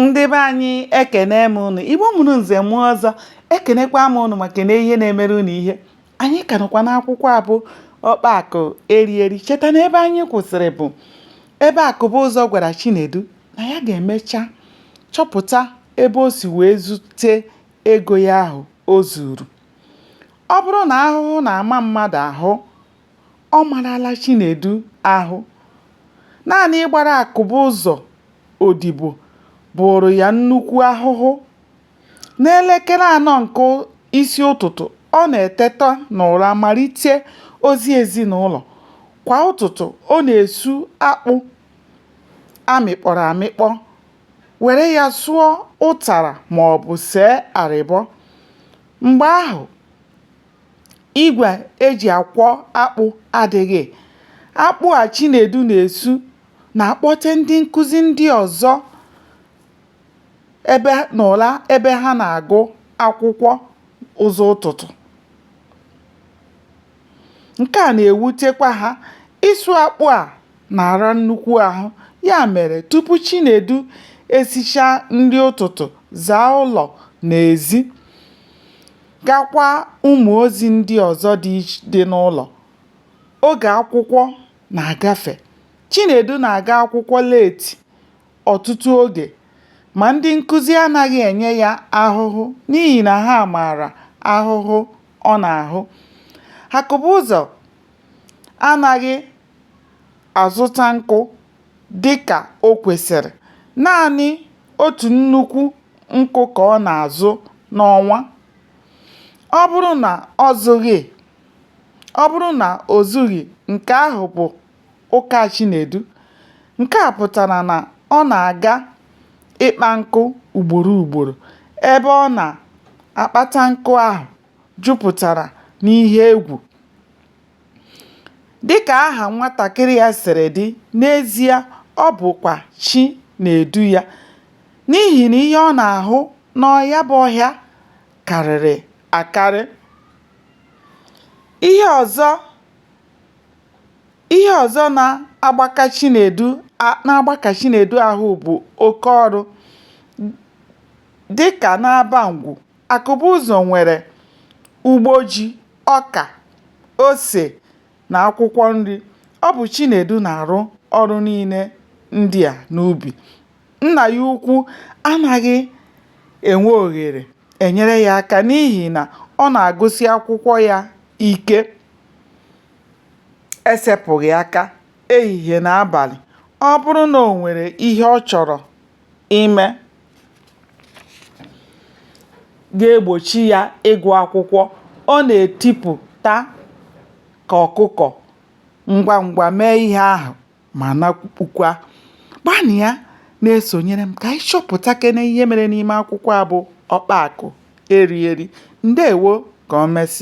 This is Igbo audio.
ndị be anyị ekene m ụnụ igbo mụrụ nze mụọ ọzọ ekenekwa m ụnụ maka na ihe na-emere ụnụ ihe anyị ka nọkwa n'akwụkwọ abụ ọkpa akụ eri eri cheta na ebe anyị kwụsịrị bụ ebe akụbụzọ gwara chinedu na ya ga-emecha chọpụta ebe o si wee zute ego ya ahụ o zuru ọ bụrụ na ahụhụ na-ama mmadụ ahụ Ọ marala Chinedu ahụ. Naanị ịgbara Akụbụzọ odibo bụụrụ ya nnukwu ahụhụ. N'elekere anọ nke isi ụtụtụ, ọ na-eteta n'ụra malite ozi ezinụlọ. Kwa ụtụtụ, ọ na-esu akpụ a mịkpọrọ amịkpọ, were ya sụọ ụtara maọbụ see arịbọ. Mgbe ahụ, igwe e ji akwọ akpụ adịghị. Akpụ a Chinedu na-esu na-akpọte ndị nkụzi ndị ọzọ n'ụra ebe ha na-agụ akwụkwọ ụzọ ụtụtụ. Nke a na-ewutekwa ha. Ịsụ akpụ a na-ara nnukwu ahụ. Ya mere, tupu Chinedu esichaa nri ụtụtụ, zaa ụlọ na ezi, gakwa ụmụ ozi ndị ọzọ dị n'ụlọ. Oge akwụkwọ na-agafe, Chinedu na-aga akwụkwọ leeti ọtụtụ oge ma ndị nkụzi anaghị enye ya ahụhụ n'ihi na ha maara ahụhụ ọ na-ahụ. Akụbụzọ anaghị azụta nkụ dịka o kwesịrị, naanị otu nnukwu nkụ ka ọ na-azụ n'ọnwa ọ bụrụ na ọ zụghị ọ bụrụ na o zughị nke ahụ bụ ụka Chinedu nke a pụtara na ọ na-aga ịkpa nkụ ugboro ugboro ebe ọ na-akpata nkụ ahụ jupụtara n'ihe egwu Dịka aha nwatakịrị a siri dị, n'ezie ọ bụkwa chi na-edu ya n'ihi na ihe ọ na-ahụ na ya bụ ọhịa karịrị akarị. Ihe ọzọ ihe ọzọ na-agbaka Chi na-agbaka Chinedu ahụ bụ oke ọrụ dịka n'Abangwu Akụbụzọ nwere ugbo ji, ọka, ose na akwụkwọ nri. Ọ bụ Chinedu na-arụ ọrụ niile ndị a n'ubi. Nna ya ukwu anaghị enwe ohere enyere ya aka n'ihi na ọ na-agụsi akwụkwọ ya ike esepụghị aka ehihie na abalị. Ọ bụrụ na o nwere ihe ọ chọrọ ime ga-egbochi ya ịgụ akwụkwọ. Ọ na-etipụta ka ọkụkọ ngwa ngwa mee ihe ahụ ma nakpukwa. Gbanịa na-esonyere m ka anyị chọpụtakene ihe mere n'ime akwụkwọ a bụ Ọkpa Akụ Eri Eri. Ndewo! Ka o mesịa.